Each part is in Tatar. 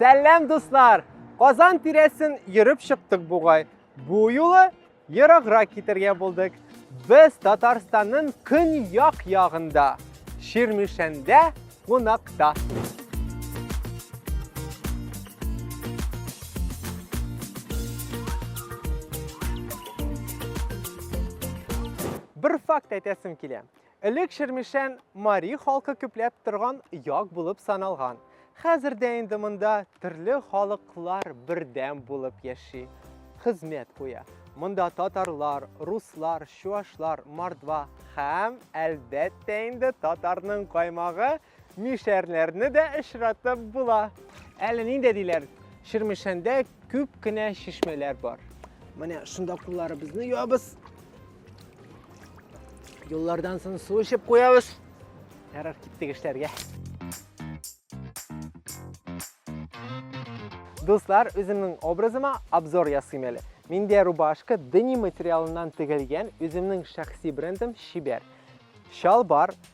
Сәлләм, дуслар! Казан тирәсен йөреп чыктык бугай. Бу юлы ераграк китергә булдык. Без Татарстанның көньяк ягында, Ширмишәндә кунакта. Бер факт әйтәсем килә. Элек Чирмешән мари халкы күпләп торган як булып саналган. Хәзер дә инде монда төрле халыклар бердәм булып яши, хезмәт куя. Монда татарлар, руслар, чуашлар, мордва һәм, әлбәттә инде, татарның каймагы, Мишәрләрне дә очратып була. Әле нинди диләр, Чирмешәндә күп кенә чишмәләр бар. Менә шунда кулларыбызны юабыз. Юллардан соң су эчеп куябыз. Ярар, киттек эшләргә. Дуслар, үземнең образыма обзор ясыйм әле. Миндә рубашка дени материалыннан тегелгән, үземнең шәхси брендым Чибәр. Чалбар,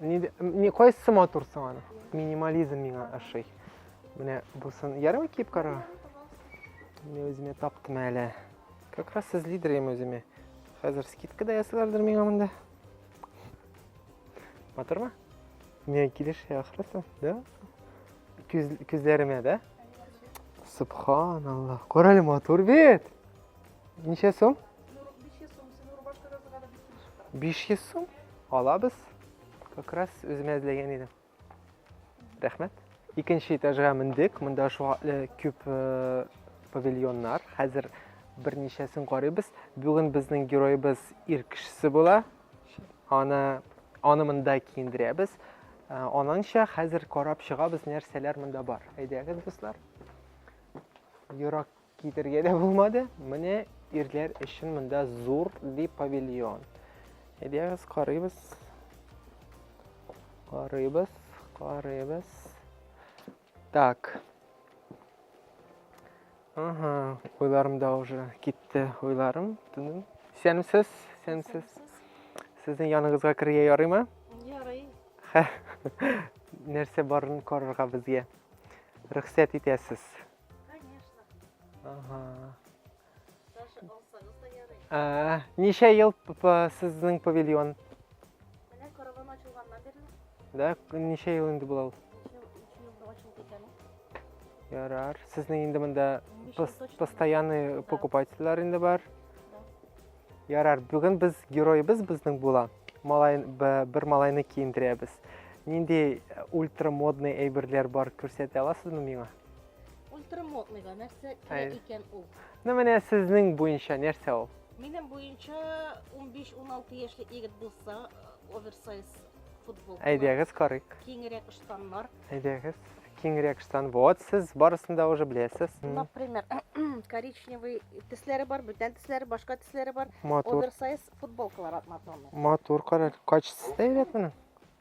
Не кайсы матур соң аны? Минимализм миңа ашый. Менә бусын ярым киеп кара. Менә үземә таптым әле. Как раз сез лидер ем үземә. Хәзер скидка да ясыйлардыр миңа монда. Матурмы? Не килешә ахрысы, да? Күз, күзләремә, да? Субханаллах. Корале матур бит. Ничә сум? 500 сум. Сез рубашка разыга да без килешеп 500 сум? Алабыз. Как раз үземә эзләгән идем. Рәхмәт. Икенче этажга мендек. Монда шугатлы күп э, павильоннар. Хәзер берничәсен карыйбыз. Бүген безнең героебыз ир кешесе була. Аны аны монда киендерәбез. Э, Ананча хәзер карап чыгабыз, нәрсәләр монда бар. Әйдәгез, дуслар. Юрак Китергә дә булмады. Менә ирләр өчен монда зур ди павильон. Әйдәгез карыйбыз. Карыйбыз, карыйбыз. Так. Ага, уйларымда уже китте уйларым. Тыным. Сәнсез, сәнсез. Сезнең яныңызга керергә ярыймы? Ярый. Нәрсә барын карарга безгә. Рөхсәт итәсез. Конечно. Ага. Даже алсаңыз да ярый. А, ничә ел сезнең павильон? Менә караван ачылганнан бирле. Да, ничә ел инде була ул? Ярар. Сезнең инде монда постоянный покупательләр инде бар. Ярар, бүген без героебыз безнең була. Малай бер малайны киендерәбез. Нинди ультрамодный әйберләр бар күрсәтә аласызмы миңа? Ультрамодныйга нәрсә керә икән ул? Ну менә сезнең буенча нәрсә ул? Минем буенча 15-16 яшьлек егет булса, э, оверсайз футбол. Әйдәгез карыйк. Киңрәк штаннар. Әйдәгез, киңрәк штан. Вот сез барысын да уже беләсез. Например, коричневый тесләре бар, бүтән тесләре, башка тесләре бар. Матур. Оверсайз футболкалар атматмамы. Матур карар. Качествосы да әйбәт моның.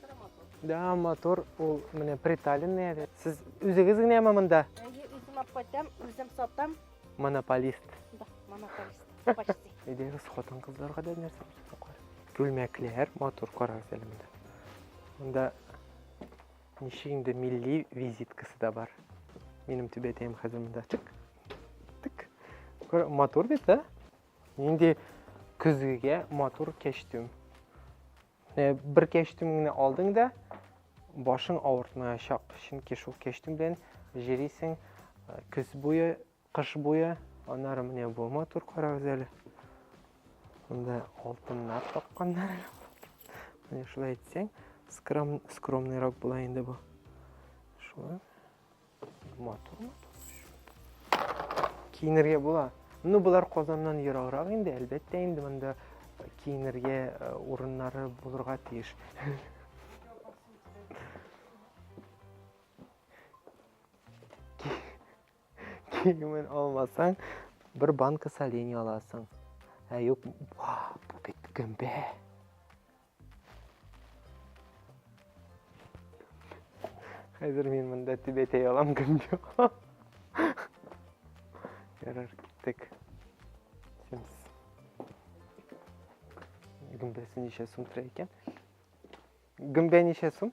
Тора мотор. Да, мотор ул менә приталенный әле. Сез үзегез генәме монда? Әйе, үзем алып кайтам, үзем сатам. Монополист. Да, монополист. Почти. Әйдәгез, хатын-кызларга да нәрсә күрсәтәкләр. Күлмәкләр, мотор карагыз әле монда. Монда ничек инде милли визиткасы да бар. Минем түбәтәем хәзер монда. Чык. Тик. Көр, мотор бит, да? Инде көзгегә мотор кәчтүм. Э, бер кәчтүм генә алдың да башың авыртмаячак чөнки шул кәчтүм белән җөрисең э, көз буе кыш буе аннары менә бу матур карагыз әле монда алтыннар тапканнар менә шулай әйтсәң скром, скромныйрак була инде бу шулай Матур, матур. Киенергә була. Ну, болар Казаннан ераграк инде, әлбәттә инде монда киенергә э, урыннары булырга тиеш. Киемен алмасаң, бер банка солений аласың. Ә юк, бу бит гөмбә. Хәзер мин монда түбәтәй алам кем юк. Ярар, киттек. Симс. Гөмбәсе ничә сум тора икән? Гөмбә ничә сум?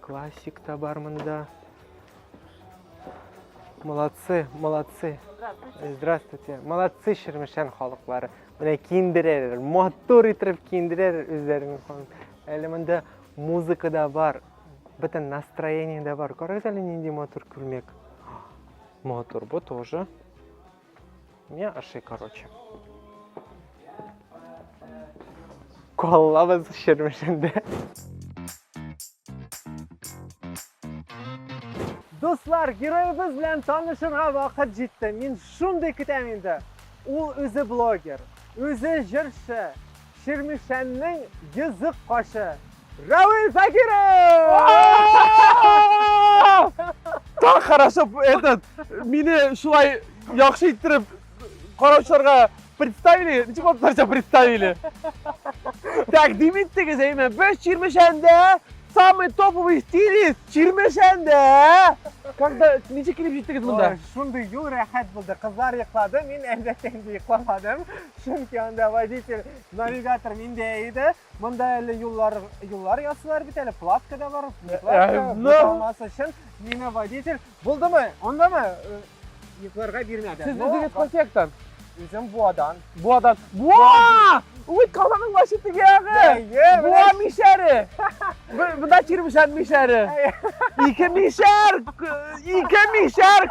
Классик та бар монда. Молодцы, молодцы. Здравствуйте. Молодцы Шермешән халыклары. Менә киндерәләр, матур итеп киндерәләр үзләренең ханын. Әле монда музыка да бар, бөтен настроение да бар. Карагыз әле нинди матур күлмәк. Матур бу тоже. Не аши, короче. Коллабыз шермешінде. Дуслар, героебыз белән танышырга вакыт җитте. Мин шундый көтәм инде. Ул үзе блогер, үзе җырчы, Чирмешәннең йөзек кашы. Равил Закиров! Так хорошо этот мине шулай яхшы иттереп караучыларга представили, ничек атларча представили. Так, димиттегез, әйме, без Чирмешәндә самый топовый стилист Чирмешәндә. Когда ничек килеп җиттегез монда? Шундый юл рәхәт булды. Кызлар йоклады, мин әлбәттә инде йокламадым. Чөнки анда водитель, навигатор миндә иде. Монда әле юллар, юллар ясыйлар бит әле, платка да бар. Э, платка э, булмасы өчен миңа водитель булдымы? Ондамы? Э, йокларга бирмәде. Сез үзегез кайсы яктан? Үзем Буадан. Буадан. Буа! Уй, каланың башы тегеге. Буа мишәре. Буда чирмешән мишәре. Ике мишәр, ике мишәр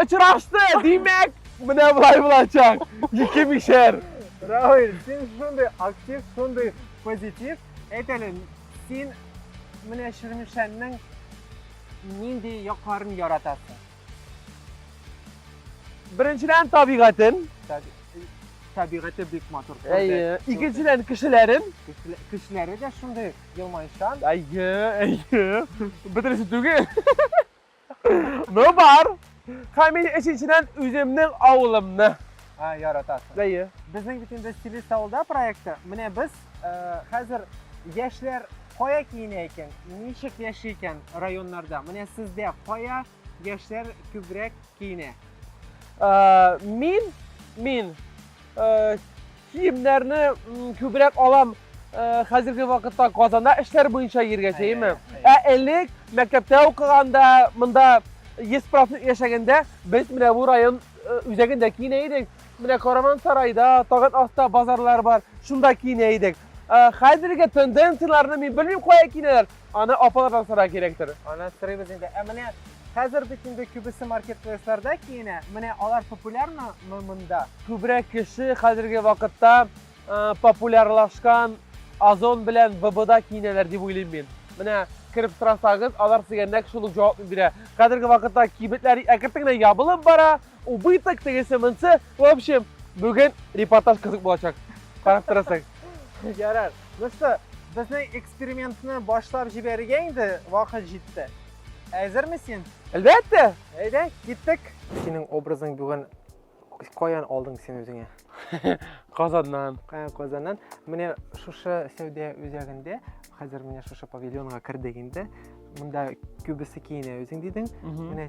очрашты, димәк. Менә болай булачак! Ике мишәр! Равиль, син шундый актив, шундый позитив. Әйт әле, син менә Чирмешәннең нинди якларын яратасың? Беренчедән табигатен. Табигате бик матур. Әйе. Икенчедән кешеләрен. Кешеләре дә шундый елмайчан. Әйе, әйе. Бөтенесе түгел. Ну бар. Һәм мин өченчедән үземнең авылымны а, яратасың. Әйе. Безнең бит инде стилист авылда проекты. Менә без э, хәзер яшьләр кая киенә икән, ничек яши икән районнарда. Менә сездә кая яшьләр күбрәк киенә? Э, мин мин Киемнәрне күбрәк алам хәзерге вакытта Казанда эшләр буенча йөргәчәйме? Ә элек мәктәптә укыганда, монда Есправны яшәгәндә без менә бу район үзәгендә киенә идек. Менә Каравансарайда, тагын аста базарлар бар. Шунда киенә идек. Хәзерге тенденцияләрне мин белмим кая киенәләр. Аны апалардан сорарга кирәктер. Аны сорыйбыз инде. Ә менә хәзер бит инде күбесе маркетплейсларда киенә. Менә алар популярмы мы монда? Күбрәк кеше хәзерге вакытта популярлашкан Озон белән ВБда киенәләр дип уйлыйм мин. Менә кереп сорасагыз, алар сезгә нәкъ шул ук җавапны бирә. Хәзерге вакытта кибетләр әкертен генә ябылып бара, убыток, тегесе, монсы. В общем, бүген репортаж кызык булачак. Карап торасың. Ярар. Дусты, безнең экспериментны башлап җибәрергә инде вакыт җитте. Әзерме син? Әлбәттә! Әйдә, киттек! Синең образың бүген каян алдың син үзеңә? Казаннан. Казаннан. Менә шушы сәүдә үзәгендә, хәзер менә шушы павильонга кердек инде. Монда күбесе киенә үзең дидең. Менә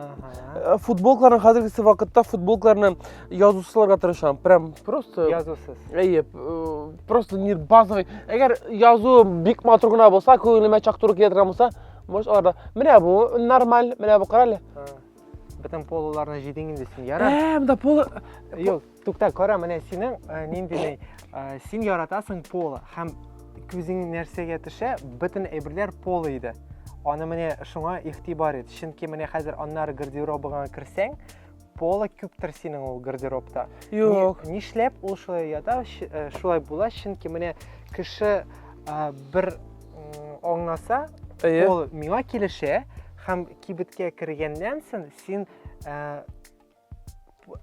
Э, футболкаларны хәзергесе вакытта футболкаларны язусыларга тырышам прям просто язусыз әйе э, просто не базовый әгәр язу бик матур гына булса күңелемә чак туры килә торган булса может аларда менә бу нормаль менә бу карале бөтен полуларны җыйдың инде син ярар ә монда полы юк Тукта, кара, менә синең э, нинди ни, э, син яратасың поло һәм күзең нәрсәгә төшә, бөтен әйберләр поло иде. Аны менә шуңа игътибар ит, чөнки менә хәзер аннары гардеробыңа керсәң, поло күптер синең ул гардеробта. Юк. Ни, нишләп ул шулай ята, э, шулай була, чөнки менә кеше ә, бер аңласа, ул миңа килешә һәм кибеткә кергәннән соң син ә,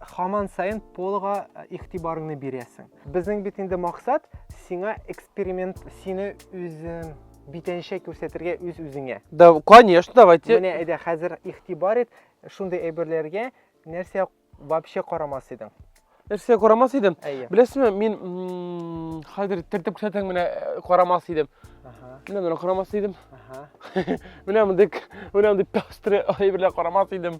Хаман сайын полга э, игътибарыңны бирәсең. Безнең бит инде максат сиңа эксперимент, сине үзең битенчә күрсәтергә үз үзеңә. Да, конечно, давайте. Менә әйдә хәзер игътибар ит шундый әйберләргә, нәрсә вообще карамас идең? Нәрсә карамас идем? Әйе. Беләсеңме, мин хәзер тертеп күрсәтсәң менә э, карамас идем. Аха. Менә менә карамас идем. Аха. Менә мондый, менә мондый пестрый әйберләр карамас идем.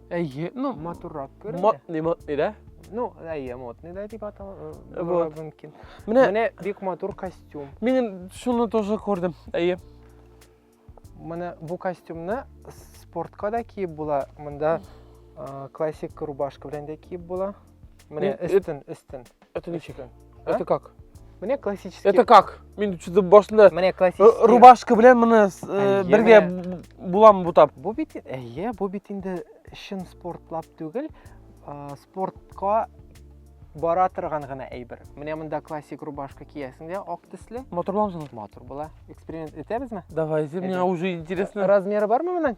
Әйе, ну, матуррак күренә. Матный, матный, да? Ну, әйе, матный да дип атала э, вот. мөмкин. Менә, менә бик матур костюм. Мин шуны тоже күрдем, әйе. Менә бу костюмны спортка да киеп була, монда классик рубашка белән дә киеп була. Міне, Ні, істин, істин. Это не чек. А? Это как? Міне классический. Это как? Мен что-то башында Міне э, классический. рубашка белән моны с- э, Әйе, бергә менә. булам бутап. Бу бит, әйе, бу бит инде чын спортлап түгел, а, спортка бара торган гына әйбер. Менә монда классик рубашка киясең дә, ак төсле, Моторлансын. матур була. Эксперимент итәбезме? Давай, Әйдә. мне уже интересно. Размеры бармы моның?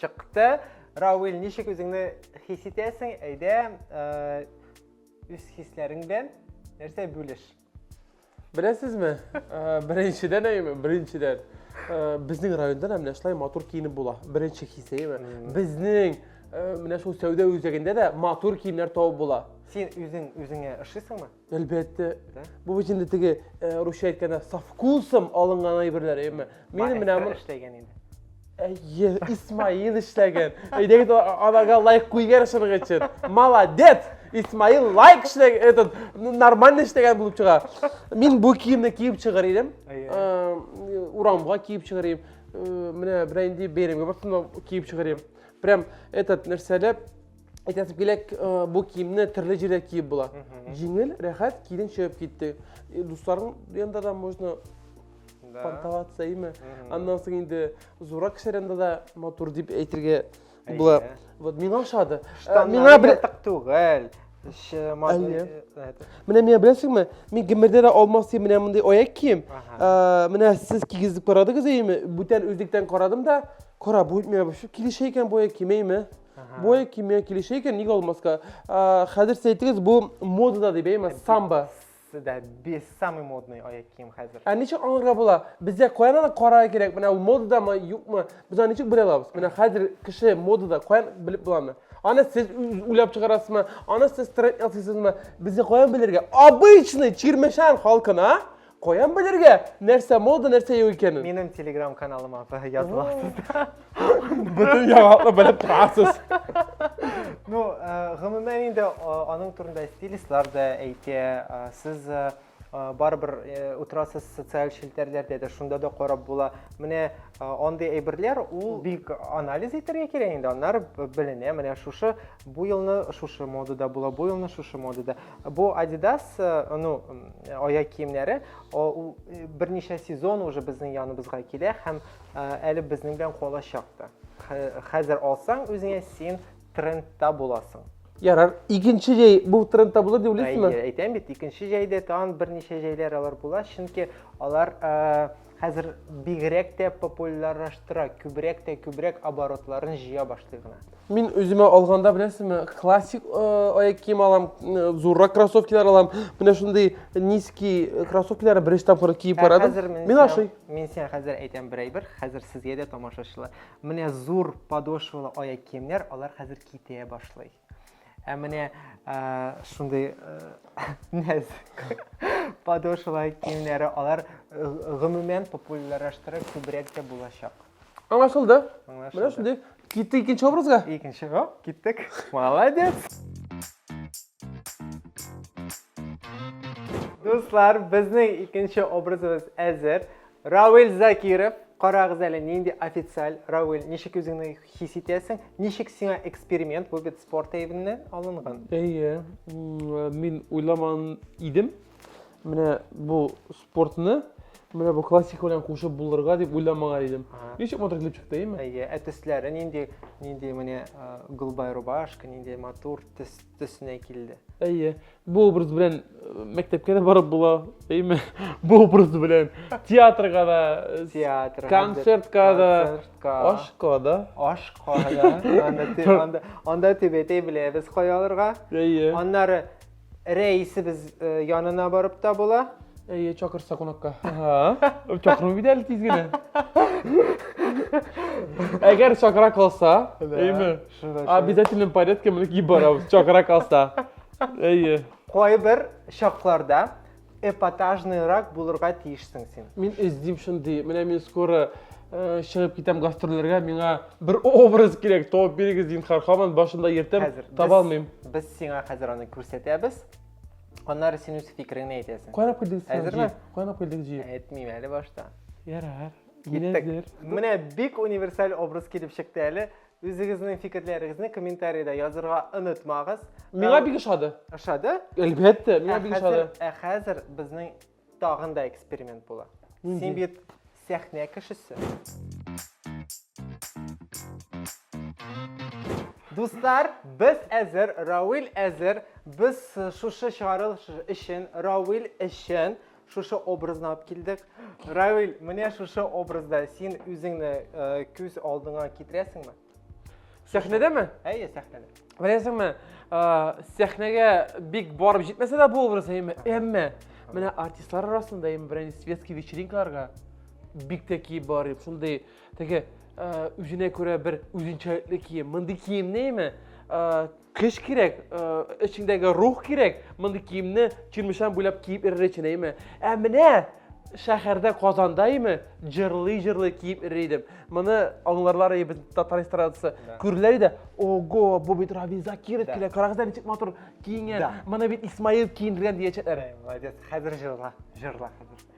Чыкты. Рауил, ничек үзеңне хис итәсең? Әйдә, үз хисләрең белән нәрсә бүлеш? Беләсезме? Беренчедән әйме, беренчедән. Безнең районда да менә шулай матур киенеп була. Беренче хис әйме. Безнең менә шул сәүдә үзәгендә дә матур киемнәр табып була. Син үзең үзеңә ошыйсыңмы? Әлбәттә. Бу бит инде теге э, русча әйткәндә со вкусом алынган әйберләр, әйеме? Мин менә бу эшләгән инде. Әйе, Исмаил эшләгән. Әйдәгез аларга лайк куйгар шуның өчен. Молодец! Исмаил лайк эшләгән, этот нормально эшләгән булып чыга. Мин бу киемне киеп чыгар идем. Э, урамга киеп чыгар идем. Э, менә бирәйин дип бәйрәмгә барсам киеп чыгар идем. Прям этот нәрсәләп әйтәсем килә бу киемне төрле җирдә киеп була җиңел рәхәт кидің чыгып китте дусларың янында да можно понтоваться име аннан соң инде зуррак кешеләр янында да матур дип әйтергә була вот миңа ошады миңа бер түгел менә миңа беләсеңме мин гомердә дә алмас дип менә мондый аяк кием менә сез кигезеп карадыгыз әйеме бүтән үзлектән карадым да кара бу миңа килешә икән бу аяк киемәйме Бой кимия килешә икән, ник алмаска? Хәзер сез әйтегез, бу модада дип әйме, самбо. Сездә без самый модный аяк кием хәзер. Ә ничек аңларга була? Бездә каян аны карарга кирәк? Менә ул модадамы, юкмы? Без аны ничек белә алабыз? Менә хәзер кеше модада каян белеп буламы? Аны сез уйлап чыгарасызмы? Аны сез тренд ясыйсызмы? Безгә каян белергә? Обычный чирмешән халкына Каян белергә, нәрсә мода, нәрсә юк икәнен? Минем телеграм каналыма язып аласыз. Бөтен яңалыкны белеп торасыз. Ну, э, гомумән инде э, аның турында стилистлар да әйтә. Э, сез барыбер утырасыз социаль челтәрләрдә дә, шунда да карап була. Менә андый әйберләр ул бик анализ итәргә кирәк инде, аннары беленә. Менә шушы бу елны шушы модада була, бу елны шушы модада. Бу Adidas ну аяк киемнәре, ул берничә сезон уже безнең яныбызга килә һәм әле безнең белән калачак та. Хәзер алсаң үзеңә син трендта буласың. Ярар, икенче җәй бу трендта булыр дип уйлыйсызмы? Әйтәм бит, икенче җәйдә тагын берничә җәйләр алар була, чөнки алар Хәзер бигрәк тә популярлаштыра, күбрәк тә күбрәк оборотларын җыя башлый гына. Мин үземә алганда, беләсезме, классик э, аяк кием алам, э, зуррак кроссовкилар алам. Менә шундый низкий э, кроссовкилар беренче тапкыр киеп Ә барадым. хәзер мин Мин сиңа- ашый. Мин сиңа хәзер әйтәм бер әйбер, хәзер сезгә дә тамашачылар. Менә зур подошвалы аяк киемнәр, алар хәзер китә башлый. Ә менә шундый нәзек подошвалар киемнәре, алар гомумән популярлаштырып күбрәк тә булачак. Аңлашылды. Менә шундый. Китте икенче образга? Икенче, о, киттек. Молодец. Дуслар, безнең икенче образыбыз әзер. Равил Закиров, карагыз әле, нинди официаль. Равил, ничек үзеңне Хис итәсең, ничек сиңа эксперимент бу бит спорт әйбеннән алынган? Әйе, мин уйламан идем. Менә бу спортны менә бу классика белән кушып булырга дип уйламаган идем. Ничек матур килеп чыкты, әйеме? Әйе, ә төсләре нинди, нинди менә голубая рубашка, нинди матур төс төсенә килде. Әйе, Бу образ белән мәктәпкә дә барып була, әйме? Бу образ белән театрга да, театрга, концертка да, ашка да. Ашка да. Анда анда төбәтәй беләбез кая алырга. Әйе. Аннары рәисебез янына барып та була. Әйе, чакырса кунакка. Чакырмый бит әле тиз генә. Әгәр чакыра калса, әйме? Обязательно порядке менеп барабыз, чакыра калса. Әйе. Кайбер чакларда эпатажныйрак булырга тиешсең син. Мин эздим шундый. Менә мин скоро э, чыгып китәм гастрольләргә, миңа бер образ кирәк. Табып бирегез, зинһар, хаман башында йөртәм, Хәзер без- таба алмыйм. Без сиңа хәзер аны күрсәтәбез. Аннары син үз фикереңне әйтәсең. Кайнап килдек син. Әзерме? Кайнап килдек җи. Әйтмим әле башта. Ярар. Мин Киттек. әзер. Менә бик универсаль образ килеп чыкты әле. Үзегезнең фикерләрегезне комментарида язырга онытмагыз. Миңа бик ошады. Ошады? Әлбәттә, миңа бик ошады. Ә хәзер безнең тагын да эксперимент була. Син бит сәхнә кешесе. Дуслар, без әзер, Рауил әзер. Без шушы чыгарылыш өчен, Рауил өчен Шушы образны алып килдек. Равиль, менә шушы образда син үзеңне э, күз алдыңа китерәсеңме? Сәхнәдәме? Әйе, сәхнәдә. Беләсеңме, э, сәхнәгә бик барып җитмәсә дә бу образ, әмма, әмма менә артистлар арасында әмма берәр светский вечеринкаларга бик тә киеп барып, шундый теге э, үзенә күрә бер үзенчәлекле кием. Мондый киемне әмма э, Көч кирәк, эчеңдәге рух кирәк, мондый киемне Чирмешән буйлап киеп йөрер өчен, әйеме? Ә менә шәһәрдә Казанда име җырлый-җырлый киеп йөри идем. Моны аңларлар иде без татар эстрадасы. Күрерләр иде, ого, бу бит Равил Закиров килә, карагыз әле ничек матур киенгән. Моны бит Исмаил киендергән диячәкләр. Молодец, хәзер җырла, җырла хәзер.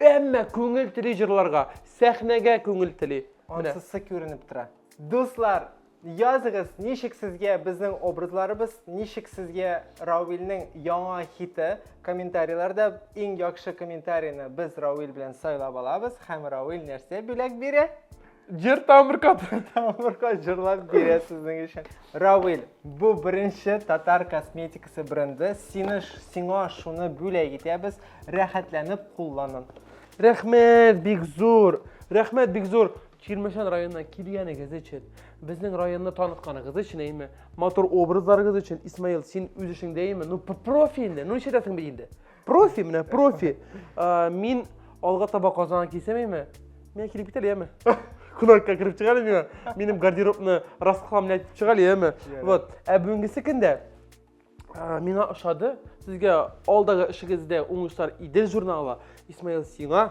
Әмма күңел тели җырларга, сәхнәгә күңел тели. Менә. Ансызсы күренеп тора. Дуслар, языгыз, ничек сезгә безнең образларыбыз, ничек сезгә Равилнең яңа хиты? Комментарийларда иң яхшы комментарийны без Равил белән сайлап алабыз һәм Равил нәрсә бүләк бирә? Җыр тамырка тамырка җырлап бирә сезнең өчен. Равил, бу беренче татар косметикасы бренды. Сине сиңа шуны бүләк итәбез. Рәхәтләнеп кулланын. Рәхмәт, бик зур. Рәхмәт, бик зур. Чирмешән районына килгәнегез өчен, безнең районны танытканыгыз өчен, әйме, матур образларыгыз өчен, Исмаил, син үз эшеңдә, әйме, ну профи инде, ну нишләтәсең бит инде. Профи менә, профи. Ә, Мин алга таба Казанга килсәм яме? Миңа килеп китәр яме? Кунакка кереп чыгар миңа. Минем гардеробны раскламлы итеп чыгар яме? Ярар. Вот. Ә бүгенгесе көндә ә, миңа ошады. Сезгә алдагы эшегездә уңышлар Идел журналы. Исмаил сиңа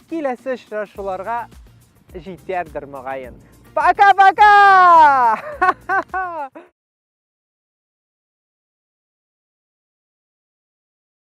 Киләсе очрашуларга җитәрдер могаен. Пока-пока!